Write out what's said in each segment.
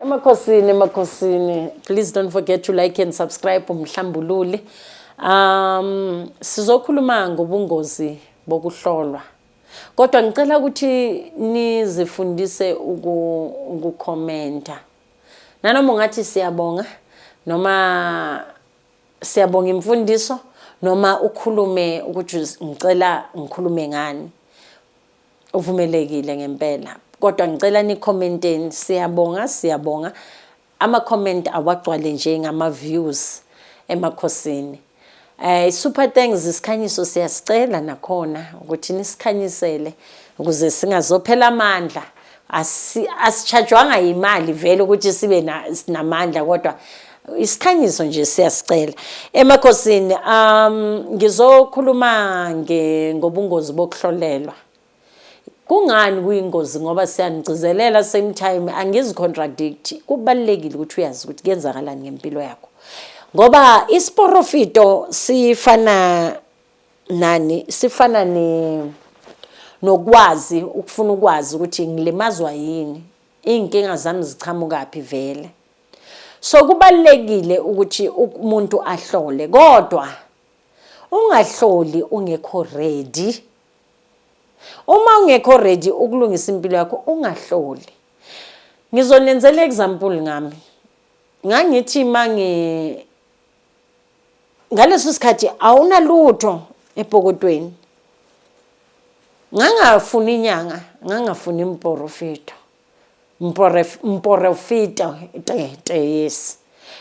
Emakhosini, emakhosini. Please don't forget to like and subscribe uMhlambululi. Um sizokhuluma ngobungozi bokuhlolwa. Kodwa ngicela ukuthi nizifundise ukukhomenta. Nanoma ungathi siyabonga noma siyabonga imfundiso noma ukhulume ukuthi ngicela ngikhulume ngani. uvumelekile ngempela kodwa ngicela nikhomenteni siyabonga siyabonga ama comment awagcwale nje ngama views emakhosini eh super thanks isikhanyiso siyasicela nakhona ukuthi nisikhanyisele ukuze singazophela amandla asitshajwanga yimali vele ukuthi sibe namandla kodwa isikhanyiso nje siyasicela emakhosini um ngizokhuluma ngobungozi bokuhlolelwa kungani kuyingozi ngoba siyanigcizelela same time angizicontradict kubalulekile ukuthi uyazi ukuthi kuyenzakalani ngempilo yakho ngoba isiporofito sifana nani sifana ne nokwazi ukufuna ukwazi ukuthi ngilimazwa yini iy'nkinga zami ziqhamukaphi vele so kubalulekile ukuthi umuntu ahlole kodwa ungahloli ungekho ready uma ungekho ready ukulungisa impilo yakho ungahloli ngizonenzela example ngami ngangithi mangi ngaleso sikhathi awunalutho epokotweni ngangafuni inyanga ngangafuni imporofito mporofito tete yes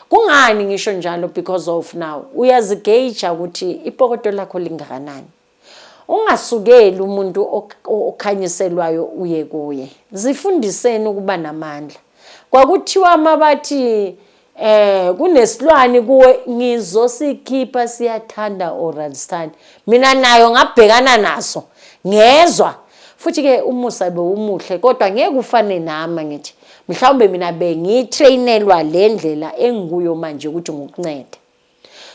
kungani ngisho njalo because of now uyazigeja ukuthi ipokoto lakho lingakanani Ungasukeli umuntu okhanyiselwayo uye kuye. Zifundiseni ukuba namandla. Kwakuthiwa uma bathi eh kunesilwane kuwe ngizosikhipha siyathanda oralsthani mina nayo ngabhekana naso ngezwa futhi ke umusa bewumuhle kodwa ngeke ufane nami ngithi mhlawumbe mina bengitrainelwa le ndlela engikuyo manje ukuthi ngikuncede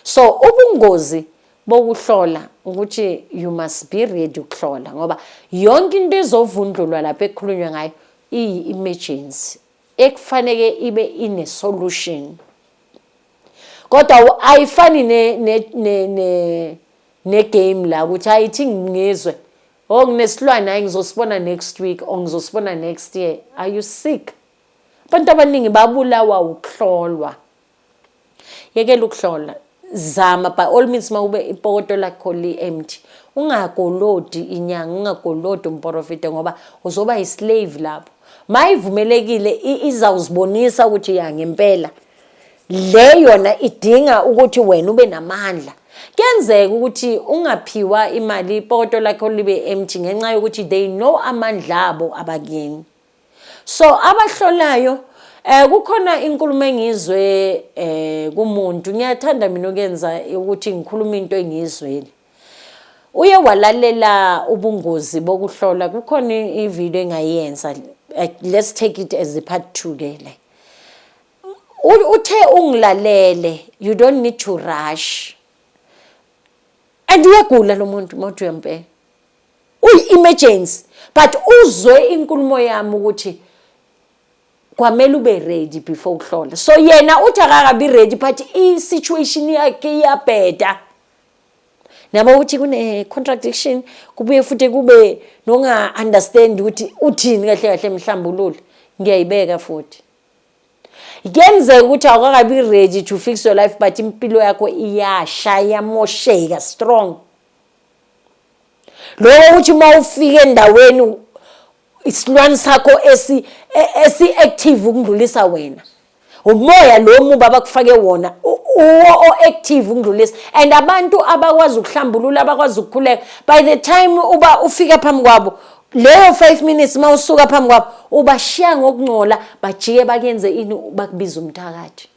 So ubungozi bokuhlola ukuthi you must be ready ukuhlola ngoba yonke into ezovundlulwa lapho ekhulunywa ngayo iyi-emergency ekufaneke ibe ine-solution kodwa ayifani ne-game la ukuthi hayi ithi ngizwe o oh, nginesilwane hayi ngizosibona next week or ngizosibona next year are you sick abantu abaningi babulawa ukuhlolwa yekela ukuhlola zama by all means mawube ipokoto lakho li empty ungagolodi inyanga ungagolodi umporofide ngoba uzoba yislave lapho mayivumelekile izawuzibonisa ukuthi ya ngempela le yona idinga ukuthi wena ube namandla kuyenzeka ukuthi ungaphiwa imali ipoto lakho libe empty ngenxa yokuthi they know amandla abo abakini so abahlolayo eh kukhona inkulumo engizwe eh kumuntu ngiyathanda mina ukuyenza ukuthi ngikhuluma into engizweli uye walalela ubungozi bokuhlola kukhona ivideo engayenza eh, let's take it as the part 2 ke le uthe ungilalele you don't need to rush and uyagula lo muntu mothi uyempela kuyi-emergency but uzwe inkulumo yami ukuthi kwamele ube ready before ukuhlola so yena uthi akakabi ready but i-situation yakhe iyabheda nabo ukuthi kune-contradiction kubuye futhi kube nonga-understand ukuthi uthini kahle kahle mhlambulule ngiyayibeka futhi kuyenzeka ukuthi awukakabi ready to fix your life but impilo yakho iyasha iyamosheka strong loko ukuthi uma ufika endaweni isilwane sakho esi e, esi active ukundlulisa wena umoya lo muba abakufake wona uwo o-active ukundlulisa and abantu abakwazi ukuhlambulula abakwazi ukukhuleka by the time uba ufika phambi kwabo leyo 5 minutes uma usuka phambi kwabo ubashiya ngokungcola bajike bakenze ini bakubiza umthakathi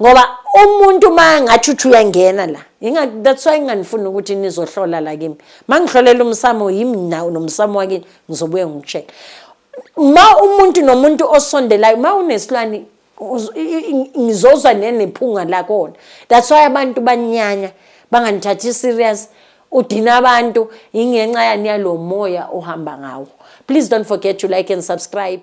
ngoba umuntu uma ngathi uthi uyangena la that's why nginganifuni ukuthi nizohlola la kimi uma ngihlolela umsamo yimi nawo nomsamo wakini ngizobuye ngikutshele ma umuntu nomuntu osondelayo ma unesilwane ngizozwa nenephunga lakona that's why abantu banyanya banganithathi serious udina abantu ingenxa yani yalo moya ohamba ngawo please don't forget to like and subscribe